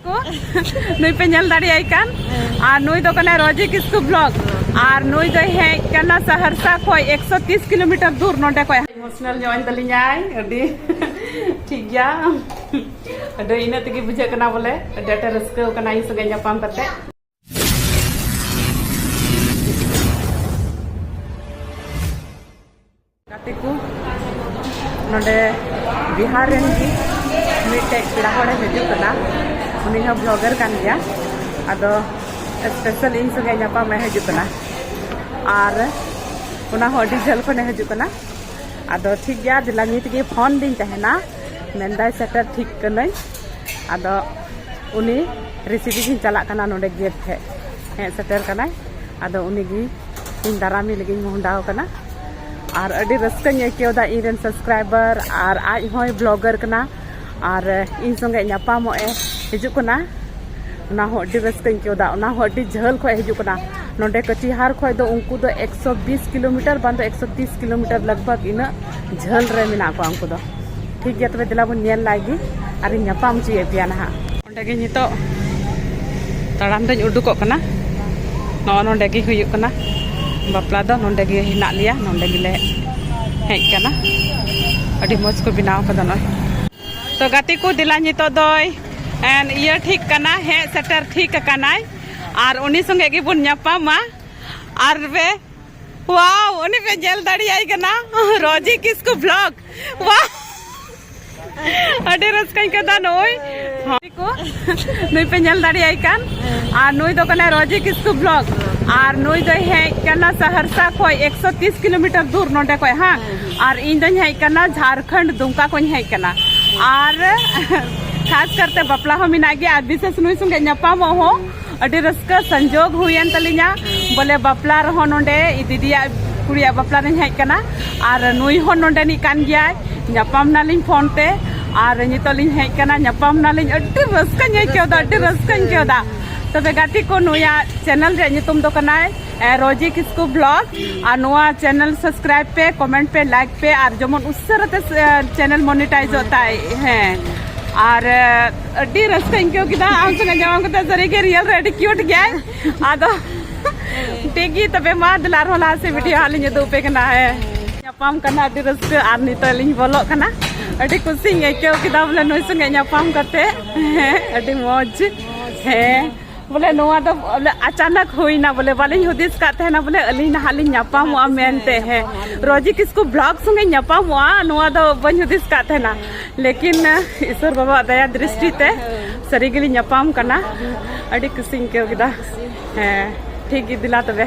ᱠᱚ ᱱᱩᱭ ᱯᱮ ᱧᱮᱞ ᱫᱟᱲᱮᱭᱟᱭ ᱠᱟᱱ ᱟᱨ ᱱᱩᱭ ᱫᱚ ᱠᱟᱱᱟᱭ ᱨᱚᱡᱤ ᱠᱤᱥᱠᱩ ᱵᱞᱚᱜ ᱟᱨ ᱱᱩᱭ ᱫᱚᱭ ᱦᱮᱡ ᱠᱟᱱᱟ ᱥᱟᱦᱟᱨᱥᱟ ᱠᱷᱚᱡ 130 ᱠᱤᱞᱳᱢᱤᱴᱟᱨ ᱫᱩᱨ ᱱᱚᱰᱮ ᱠᱷᱚᱡ ᱤᱢᱳᱥᱱᱟᱞ ᱧᱚᱜ ᱤᱧ ᱛᱟᱞᱤᱧᱟᱭ ᱟᱹᱰᱤ ᱴᱷᱤᱠ ᱜᱮᱭᱟ ᱟᱹᱰᱤ ᱤᱱᱟᱹ ᱛᱮᱜᱮ ᱵᱩᱡᱷᱟᱹᱜ ᱠᱟᱱᱟ ᱵᱚᱞᱮ ᱟᱹᱰᱤ ᱟᱸᱴᱮ ᱨᱟᱹᱥᱠᱟᱹ ᱠᱟᱱᱟ ᱤᱧ ᱥᱚᱸᱜᱮ ᱧᱟᱯᱟᱢ ᱠᱟᱛᱮ ᱜᱟᱛᱮ ᱠᱚ ᱱᱚᱰᱮ ᱵᱤᱦᱟᱨ ᱨᱮᱱ ᱜᱮ ᱢᱤᱫᱴᱮᱡ ᱯᱮᱲᱟ ᱦᱚᱲᱮ ᱦᱤᱡᱩᱜ ᱠᱟᱱᱟ ᱩᱱᱤ ᱦᱚᱸ ᱵᱞᱚᱜᱟᱨ ᱠᱟᱱ ᱜᱮᱭᱟ ᱟᱫᱚ ᱥᱯᱮᱥᱟᱞ ᱤᱧ ᱥᱚᱸᱜᱮ ᱧᱟᱯᱟᱢᱮ ᱦᱤᱡᱩᱜ ᱠᱟᱱᱟ ᱟᱨ ᱚᱱᱟ ᱦᱚᱸ ᱟᱹᱰᱤ ᱡᱷᱟᱹᱞ ᱠᱷᱚᱱᱮ ᱦᱤᱡᱩᱜ ᱠᱟᱱᱟ ᱟᱫᱚ ᱴᱷᱤᱠ ᱜᱮᱭᱟ ᱫᱮᱞᱟ ᱱᱤᱛ ᱜᱮ ᱯᱷᱳᱱ ᱫᱤᱧ ᱛᱟᱦᱮᱱᱟ ᱢᱮᱱᱫᱟᱭ ᱥᱮᱴᱮᱨ ᱴᱷᱤᱠ ᱠᱟᱹᱱᱟᱹᱧ ᱟᱫᱚ ᱩᱱᱤ ᱨᱮᱥᱤᱵᱷ ᱤᱧ ᱪᱟᱞᱟᱜ ᱠᱟᱱᱟ ᱱᱚᱰᱮ ᱜᱮᱴ ᱴᱷᱮᱡ ᱦᱮᱡ ᱥᱮᱴᱮᱨ ᱠᱟᱱᱟᱭ ᱟᱫᱚ ᱩᱱᱤ ᱜᱮ ᱤᱧ ᱫᱟᱨᱟᱢᱮ ᱞᱟᱹᱜᱤᱫ ᱤᱧ ᱢᱚᱦᱰᱟᱣ ᱠᱟᱱᱟ ᱟᱨ ᱟᱹᱰᱤ ᱨᱟᱹᱥᱠᱟᱹᱧ ᱟᱹᱭᱠᱟᱹᱣᱫᱟ ᱤᱧ ᱨᱮᱱ ᱥᱟᱵᱥᱠᱨᱟᱭᱵᱟᱨ ᱟᱨ ᱟᱡ ᱦᱚᱸᱭ ᱵᱞᱚᱜᱟᱨ ᱠᱟᱱᱟ ᱟᱨ ᱤᱧ ᱥᱚᱸᱜᱮ ᱧᱟᱯᱟᱢᱚᱜ ᱮ ᱦᱤᱡᱩᱜ ᱠᱟᱱᱟ ᱚᱱᱟ ᱦᱚᱸ ᱟᱹᱰᱤ ᱨᱟᱹᱥᱠᱟᱹᱧ ᱟᱹᱭᱠᱟᱹᱣᱫᱟ ᱚᱱᱟ ᱦᱚᱸ ᱟᱹᱰᱤ ᱡᱷᱟᱹᱞ ᱠᱷᱚᱡ ᱦᱤᱡᱩᱜ ᱠᱟᱱᱟ ᱱᱚᱰᱮ ᱠᱟᱹᱪᱤᱦᱟᱨ ᱠᱷᱚᱡ ᱫᱚ ᱩᱱᱠᱩ ᱫᱚ ᱮᱠᱥᱚ ᱵᱤᱥ ᱠᱤᱞᱳᱢᱤᱴᱟᱨ ᱵᱟᱝ ᱫᱚ ᱮᱠᱥᱚ ᱛᱤᱥ ᱠᱤᱞᱳᱢᱤᱴᱟᱨ ᱞᱟᱜᱽ ᱵᱷᱟᱜᱽ ᱤᱱᱟᱹᱜ ᱡᱷᱟᱹᱞ ᱨᱮ ᱢᱮᱱᱟᱜ ᱠᱚᱣᱟ ᱩᱱᱠᱩ ᱫᱚ ᱴᱷᱤᱠ ᱜᱮᱭᱟ ᱛᱚᱵᱮ ᱫᱮᱞᱟ ᱵᱚᱱ ᱧᱮᱞ ᱞᱟᱭ ᱜᱮ ᱟᱨ ᱤᱧ ᱧᱟᱯᱟᱢ ᱦᱚᱪᱚᱭᱮᱫ ᱯᱮᱭᱟ ᱱᱟᱦᱟᱜ ᱚᱸᱰᱮ ᱜᱮ ᱱᱤᱛᱚᱜ ᱛᱟᱲᱟᱢ ᱫᱚᱧ ᱩᱰᱩᱠᱚᱜ ᱠᱟᱱᱟ ᱱᱚᱜᱼᱚ ᱱᱚᱸᱰᱮ ᱜᱮ ᱦᱩᱭᱩᱜ ᱠᱟᱱᱟ ᱵᱟᱯᱞᱟ ᱫᱚ ᱱᱚᱸᱰᱮ ᱜᱮ ᱦᱮᱱᱟᱜ ᱞᱮᱭᱟ ᱱᱚᱸᱰᱮ ᱜᱮᱞᱮ ᱦᱮᱡ ᱠᱟᱱᱟ ᱟᱹᱰᱤ ᱢᱚᱡᱽ ᱠᱚ ᱵᱮᱱᱟᱣ ᱠᱟᱫᱟ ᱱᱚᱜᱼᱚᱭ ᱛᱚ ᱜᱟᱛᱮ ᱠᱚ ᱫᱮᱞᱟ ᱱᱤᱛᱚᱜ ᱫᱚᱭ ᱤᱭᱟᱹ ᱴᱷᱤᱠ ᱠᱟᱱᱟ ᱦᱮᱡ ᱥᱮᱴᱮᱨ ᱴᱷᱤᱠ ᱟᱠᱟᱱᱟᱭ ᱟᱨ ᱩᱱᱤ ᱥᱚᱸᱜᱮ ᱜᱮᱵᱚᱱ ᱧᱟᱯᱟᱢᱟ ᱟᱨ ᱯᱮ ᱣᱟᱣ ᱩᱱᱤ ᱯᱮ ᱧᱮᱞ ᱫᱟᱲᱮᱭᱟᱭ ᱠᱟᱱᱟ ᱨᱚᱡᱤ ᱠᱤᱥᱠᱩ ᱵᱞᱚᱜᱽ ᱵᱟ ᱟᱹᱰᱤ ᱨᱟᱹᱥᱠᱟᱹᱧ ᱠᱟᱫᱟ ᱱᱚᱜᱼᱚᱭ ᱠᱚ ᱱᱩᱭ ᱯᱮ ᱧᱮᱞ ᱫᱟᱲᱮᱭᱟᱭ ᱠᱟᱱ ᱟᱨ ᱱᱩᱭ ᱫᱚ ᱠᱟᱱᱟᱭ ᱨᱚᱡᱤ ᱠᱤᱥᱠᱩ ᱵᱞᱚᱜ ᱟᱨ ᱱᱩᱭ ᱫᱚᱭ ᱦᱮᱡ ᱠᱟᱱᱟ ᱥᱟᱦᱟᱨᱥᱟ ᱠᱷᱚᱡ ᱮᱠᱥᱚ ᱛᱤᱥ ᱠᱤᱞᱳᱢᱤᱴᱟᱨ ᱫᱩᱨ ᱱᱚᱰᱮ ᱠᱷᱚᱡ ᱦᱟᱸ ᱟᱨ ᱤᱧ ᱫᱚᱧ ᱦᱮᱡ ᱠᱟᱱᱟ ᱡᱷᱟᱨᱠᱷᱚᱸᱰ ᱫᱩᱢᱠᱟ ᱠᱷᱚᱡ ᱦᱮᱡ ᱠᱟᱱᱟ ᱟᱨ ᱠᱷᱟᱥ ᱠᱟᱨᱛᱮ ᱵᱟᱯᱞᱟ ᱦᱚᱸ ᱢᱮᱱᱟᱜ ᱜᱮᱭᱟ ᱟᱨ ᱵᱤᱥᱮᱥ ᱱᱩᱭ ᱥᱚᱸᱜᱮ ᱧᱟᱯᱟᱢᱚᱜ ᱦᱚᱸ ᱟᱹᱰᱤ ᱨᱟᱹᱥᱠᱟᱹ ᱥᱚᱝᱡᱳᱜᱽ ᱦᱩᱭᱮᱱ ᱛᱟᱹᱞᱤᱧᱟ ᱵᱚᱞᱮ ᱵᱟᱯᱞᱟ ᱨᱮᱦᱚᱸ ᱱᱚᱰᱮ ᱫᱤᱫᱤᱭᱟᱜ ᱠᱩᱲᱤᱭᱟᱜ ᱵᱟᱯᱞᱟ ᱨᱤᱧ ᱦᱮᱡ ᱠᱟᱱᱟ ᱟᱨ ᱱᱩᱭ ᱦᱚᱸ ᱱᱚᱰᱮᱱᱤᱡ ᱠᱟᱱ ᱜᱮᱭᱟᱭ ᱧᱟᱯᱟᱢ ᱱᱟᱞᱤᱧ ᱯᱷᱳᱱ ᱛᱮ ᱟᱨ ᱱᱤᱛᱚᱜ ᱞᱤᱧ ᱦᱮᱡ ᱠᱟᱱᱟ ᱧᱟᱯᱟᱢ ᱱᱟᱞᱤᱧ ᱟᱹᱰᱤ ᱨᱟᱹᱥᱠᱟᱹᱧ ᱟᱹᱭᱠᱟᱹᱣᱫᱟ ᱟᱹᱰᱤ ᱨᱟᱹᱥᱠᱟᱹᱧ ᱟᱹᱭᱠᱟᱹᱣᱫᱟ ᱛᱚᱵᱮ ᱜᱟᱛᱮ ᱠᱚ ᱱᱩᱭᱟᱜ ᱪᱮᱱᱮᱞ ᱨᱮᱭᱟᱜ ᱧᱩᱛᱩᱢ ᱫᱚ ᱠᱟᱱᱟᱭ ᱨᱚᱡᱤ ᱠᱤᱥᱠᱩ ᱵᱞᱚᱜ ᱟᱨ ᱱᱚᱣᱟ ᱪᱮᱱᱮᱞ ᱥᱟᱵᱥᱠᱨᱟᱭᱤᱵ ᱯᱮ ᱠᱚᱢᱮᱱᱴ ᱯᱮ ᱞᱟᱭᱤᱠ ᱯᱮ ᱟᱨ ᱡᱮᱢᱚᱱ ᱩᱥᱟᱹᱨᱟᱛᱮ ᱪᱮᱱᱮᱞ ᱢᱚᱱᱤᱴᱟᱭᱤᱡᱚᱜ ᱛᱟᱭ ᱦᱮᱸ ᱟᱨ ᱟᱹᱰᱤ ᱨᱟᱹᱥᱠᱟᱹᱧ ᱟᱹᱭᱠᱟᱹᱣ ᱠᱮᱫᱟ ᱟᱢ ᱥᱚᱸᱜᱮ ᱧᱟᱯᱟᱢ ᱠᱟᱛᱮ ᱥᱟᱹᱨᱤᱜᱮ ᱨᱤᱭᱮᱞ ᱨᱮ ᱟᱹᱰᱤ ᱠᱤᱭᱩᱴ ᱜᱮᱭᱟᱭ ᱟᱫᱚ ᱴᱷᱤᱠ ᱜᱮ ᱛᱚᱵᱮ ᱢᱟ ᱫᱮᱞᱟ ᱟᱨᱦᱚᱸ ᱞᱟᱦᱟ ᱥᱮᱫ ᱵᱷᱤᱰᱤᱭᱳ ᱦᱟᱸᱜ ᱞᱤᱧ ᱩᱫᱩᱜ ᱟᱯᱮ ᱠᱟᱱᱟ ᱦᱮᱸ ᱧᱟᱯᱟᱢ ᱠᱟᱱᱟ ᱟᱹᱰᱤ ᱨᱟᱹᱥᱠᱟᱹ ᱟᱨ ᱱᱤᱛᱚᱜ ᱞᱤᱧ ᱵᱚᱞᱚᱜ ᱠᱟᱱᱟ ᱟᱹᱰᱤ ᱠᱩᱥᱤᱧ ᱟᱹᱭᱠᱟᱹᱣ ᱠᱮᱫᱟ ᱵᱚᱞᱮ ᱱᱩᱭ ᱥᱚᱸᱜᱮ ᱧᱟᱯᱟᱢ ᱠᱟᱛᱮ ᱦᱮᱸ ᱟᱹᱰᱤ ᱢᱚᱡᱽ ᱦᱮᱸ ᱵᱚᱞᱮ ᱱᱚᱣᱟ ᱫᱚ ᱵᱚᱞᱮ ᱟᱪᱟᱱᱟᱠ ᱦᱩᱭᱱᱟ ᱵᱚᱞᱮ ᱵᱟᱞᱤᱧ ᱦᱩᱫᱤᱥ ᱠᱟᱜ ᱛᱟᱦᱮᱱᱟ ᱵᱚᱞᱮ ᱟᱹᱞᱤᱧ ᱱᱟᱦᱟᱜ ᱞᱤᱧ ᱧᱟᱯᱟᱢᱚᱜᱼᱟ ᱢᱮᱱᱛᱮ ᱦᱮᱸ ᱨᱚᱡᱤ ᱠᱤᱥᱠᱩ ᱵᱞᱚᱜ ᱥᱚᱸᱜᱮ ᱧᱟᱯᱟᱢᱚᱜᱼᱟ ᱱᱚᱣᱟ ᱫᱚ ᱵᱟᱹᱧ ᱦᱩᱫᱤᱥ ᱠᱟᱜ ᱛᱟᱦᱮᱱᱟ ᱞᱮᱠᱤᱱ ᱤᱥᱚᱨ ᱵᱟᱵᱟ ᱫᱟᱭᱟ ᱫᱨᱤᱥᱴᱤ ᱛᱮ ᱥᱟᱹᱨᱤ ᱜᱮᱞᱤᱧ ᱧᱟᱯᱟᱢ ᱠᱟᱱᱟ ᱟᱹᱰᱤ ᱠᱩᱥᱤᱧ ᱟᱹᱭᱠᱟᱹᱣ ᱠᱮᱫᱟ ᱦᱮᱸ ᱴᱷᱤᱠ ᱜᱮ ᱫᱮᱞᱟ ᱛᱚᱵᱮ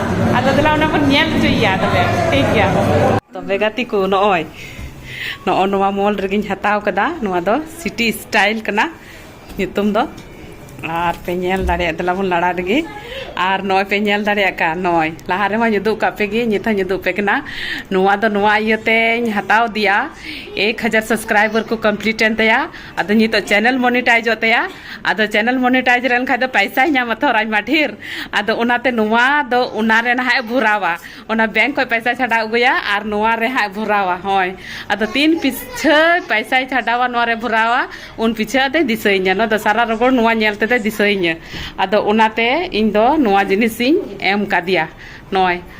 ᱟᱫᱚ ᱫᱮᱞᱟ ᱚᱱᱟ ᱵᱚᱱ ᱧᱮᱞ ᱦᱚᱪᱚᱭᱮᱭᱟ ᱛᱚᱵᱮ ᱴᱷᱤᱠ ᱜᱮᱭᱟ ᱛᱚᱵᱮ ᱜᱟᱛᱮ ᱠᱚ ᱱᱚᱜᱼᱚᱭ ᱱᱚᱜᱼᱚ ᱱᱚᱣᱟ ᱢᱚᱞ ᱨᱮᱜᱮᱧ ᱦᱟᱛᱟᱣ ᱠᱟᱫᱟ ᱱᱚᱣᱟ ᱫᱚ ᱥᱤᱴᱤ ᱥᱴᱟᱭᱤᱞ ᱠᱟᱱᱟ ᱧᱩᱛᱩᱢ ᱫᱚ ᱟᱨ ᱯᱮ ᱧᱮᱞ ᱫᱟᱲᱮᱭᱟᱜ ᱫᱮᱞᱟ ᱵᱚᱱ ᱞᱟᱲᱟ ᱨᱮᱜᱮ ᱟᱨ ᱱᱚᱜᱼᱚᱭ ᱯᱮ ᱧᱮᱞ ᱫᱟᱲᱮᱭᱟᱜ ᱠᱟᱱ ᱱᱚᱜᱼᱚᱭ ᱞᱟᱦᱟ ᱨᱮᱦᱚᱸᱧ ᱩᱫᱩᱜ ᱠᱟᱜ ᱯᱮᱜᱮ ᱱᱤᱛ ᱦᱚᱸᱧ ᱩᱫᱩᱜ ᱯᱮ ᱠᱟᱱᱟ ᱱᱚᱣᱟ ᱫᱚ ᱱᱚᱣᱟ ᱤᱭᱟᱹᱛᱮᱧ ᱦᱟᱛᱟᱣ ᱟᱫᱮᱭᱟ ᱮᱠ ᱦᱟᱡᱟᱨ ᱥᱟᱵᱥᱠᱨᱟᱭᱵᱟᱨ ᱠᱚ ᱠᱚᱢᱯᱞᱤᱴ ᱮᱱ ᱛᱟᱭᱟ ᱟᱫᱚ ᱱᱤᱛᱚᱜ ᱪᱮᱱᱮᱞ ᱢᱚᱱᱤᱴᱟᱭᱤᱡᱚᱜ ᱛᱟᱭᱟ ᱟᱫᱚ ᱪᱮᱱᱮᱞ ᱢᱚᱱᱤᱴᱟᱭᱤᱡ ᱨᱮᱱ ᱠᱷᱟᱡ ᱫᱚ ᱯᱟᱭᱥᱟᱭ ᱧᱟᱢᱟ ᱛᱷᱚᱨ ᱟᱭᱢᱟ ᱰᱷᱮᱨ ᱟᱫᱚ ᱚᱱᱟᱛᱮ ᱱᱚᱣᱟ ᱫᱚ ᱚᱱᱟ ᱨᱮ ᱱᱟᱦᱟᱜ ᱮ ᱵᱷᱚᱨᱟᱣᱟ ᱚᱱᱟ ᱵᱮᱝᱠ ᱠᱷᱚᱡ ᱯᱟᱭᱥᱟ ᱪᱷᱟᱰᱟᱣ ᱟᱹᱜᱩᱭᱟ ᱟᱨ ᱱᱚᱣᱟ ᱨᱮ ᱦᱟᱸᱜ ᱵᱷᱚᱨᱟᱣᱟ ᱦᱳᱭ ᱟᱫᱚ ᱛᱤᱱ ᱯᱤᱪᱷᱟᱹ ᱯᱟᱭᱥᱟᱭ ᱪᱷᱟᱰᱟᱣᱟ ᱱᱚᱣᱟ ᱨᱮ ᱵᱷᱚᱨᱟᱣᱟ ᱩᱱ ᱯᱤᱪᱷᱟᱹ ᱟᱫᱚᱭ ᱫᱤᱥᱟᱹᱭᱤᱧᱟ ᱱᱚᱣᱟ ᱫᱚ ᱥᱟᱨᱟ ᱨᱚᱜᱚᱲ ᱱᱚᱣᱟ ᱧᱮᱞ ᱛᱮᱫᱚᱭ ᱫᱤᱥᱟᱹᱭᱤᱧᱟ ᱟᱫᱚ ᱚᱱᱟᱛᱮ ᱤᱧ ᱫᱚ ᱱᱚᱣᱟ ᱡᱤᱱᱤᱥᱤᱧ ᱮᱢ ᱠᱟᱫᱮᱭᱟ ᱱᱚᱜᱼᱚᱭ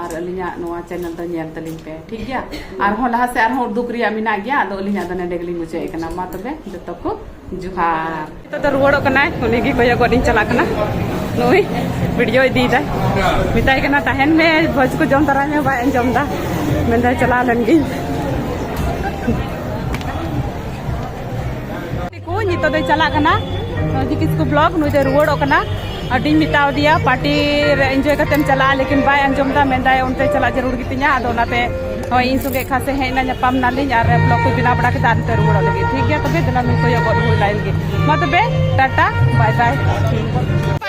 ᱟᱨ ᱟᱹᱞᱤᱧᱟᱜ ᱱᱚᱣᱟ ᱪᱮᱱᱮᱞ ᱫᱚ ᱧᱮᱞ ᱛᱟᱹᱞᱤᱧ ᱯᱮ ᱴᱷᱤᱠ ᱜᱮᱭᱟ ᱟᱨᱦᱚᱸ ᱞᱟᱦᱟ ᱥᱮᱫ ᱟᱨᱦᱚᱸ ᱩᱫᱩᱜ ᱨᱮᱭᱟᱜ ᱢᱮᱱᱟᱜ ᱜᱮᱭᱟ ᱟᱫᱚ ᱟᱹᱞᱤᱧᱟᱜ ᱫᱚ ᱱᱚᱰᱮ ᱜᱮᱞᱤᱧ ᱢᱩᱪᱟᱹᱫ ᱠᱟᱱᱟ ᱢᱟ ᱛᱚᱵᱮ ᱡᱚᱛᱚ ᱠᱚ ᱡᱚᱦᱟᱨ ᱱᱤᱛᱚᱜ ᱫᱚ ᱨᱩᱣᱟᱹᱲᱚᱜ ᱠᱟᱱᱟᱭ ᱩᱱᱤ ᱜᱮ ᱠᱚᱭᱚᱜᱚᱜ ᱞᱤᱧ ᱪᱟᱞᱟᱜ ᱠᱟᱱᱟ ᱱᱩᱭ ᱵᱷᱤᱰᱤᱭᱳ ᱤᱫᱤᱭᱮᱫᱟᱭ ᱢᱮᱛᱟᱭ ᱠᱟᱱᱟ ᱛᱟᱦᱮᱱ ᱢᱮ ᱵᱷᱚᱡᱽ ᱠᱚ ᱡᱚᱢ ᱛᱟᱨᱟᱭ ᱢᱮ ᱵᱟᱭ ᱟᱸᱡᱚᱢ ᱮᱫᱟ ᱢᱮᱱᱫᱟᱭ ᱪᱟᱞᱟᱣ ᱞᱮᱱ ᱜᱤᱧ ᱠᱚ ᱱᱤᱛᱚᱜ ᱫᱚᱭ ᱪᱟᱞᱟᱜ ᱠᱟᱱᱟ ᱱᱚᱡᱤ ᱠᱤᱥᱠᱩ ᱵᱞᱚᱠ ᱱᱩᱭ ᱫᱚᱭ ᱨᱩᱣᱟᱹᱲᱚᱜ ᱠᱟᱱᱟ ᱟᱹᱰᱤᱧ ᱢᱮᱛᱟᱣ ᱫᱮᱭᱟ ᱯᱟᱨᱴᱤ ᱨᱮ ᱮᱱᱡᱚᱭ ᱠᱟᱛᱮᱢ ᱪᱟᱞᱟᱜᱼᱟ ᱞᱮᱠᱤᱱ ᱵᱟᱭ ᱟᱸᱡᱚᱢ ᱫᱟ ᱢᱮᱱᱫᱟᱭ ᱚᱱᱛᱮ ᱪᱟᱞᱟᱜ ᱡᱟᱹᱨᱩᱲ ᱜᱮᱛᱤᱧᱟ ᱟᱫᱚ ᱚᱱᱟᱛᱮ ᱦᱳᱭ ᱤᱧ ᱥᱚᱸᱜᱮ ᱠᱷᱟᱥ ᱮ ᱦᱮᱡ ᱮᱱᱟ ᱧᱟᱯᱟᱢ ᱱᱟᱞᱤᱧ ᱟᱨ ᱵᱞᱚᱠ ᱠᱚ ᱵᱮᱱᱟᱣ ᱵᱟᱲᱟ ᱠᱮᱫᱟ ᱟᱨ ᱱᱤᱛᱚᱜ ᱨᱩᱣᱟᱹᱲᱚᱜ ᱞᱟᱹᱜᱤᱫ ᱴᱷᱤᱠ ᱜᱮᱭᱟ ᱛᱚᱵᱮ ᱫᱮᱞᱟ ᱱᱩᱭ ᱠᱚᱭᱚᱜ ᱜᱚᱫ ᱦᱩᱭ ᱞᱟᱭ ᱞᱟᱹᱜᱤᱫ ᱢᱟ ᱛᱚᱵᱮ ᱴᱟᱴᱟ ᱵᱟᱭ ᱵᱟᱭ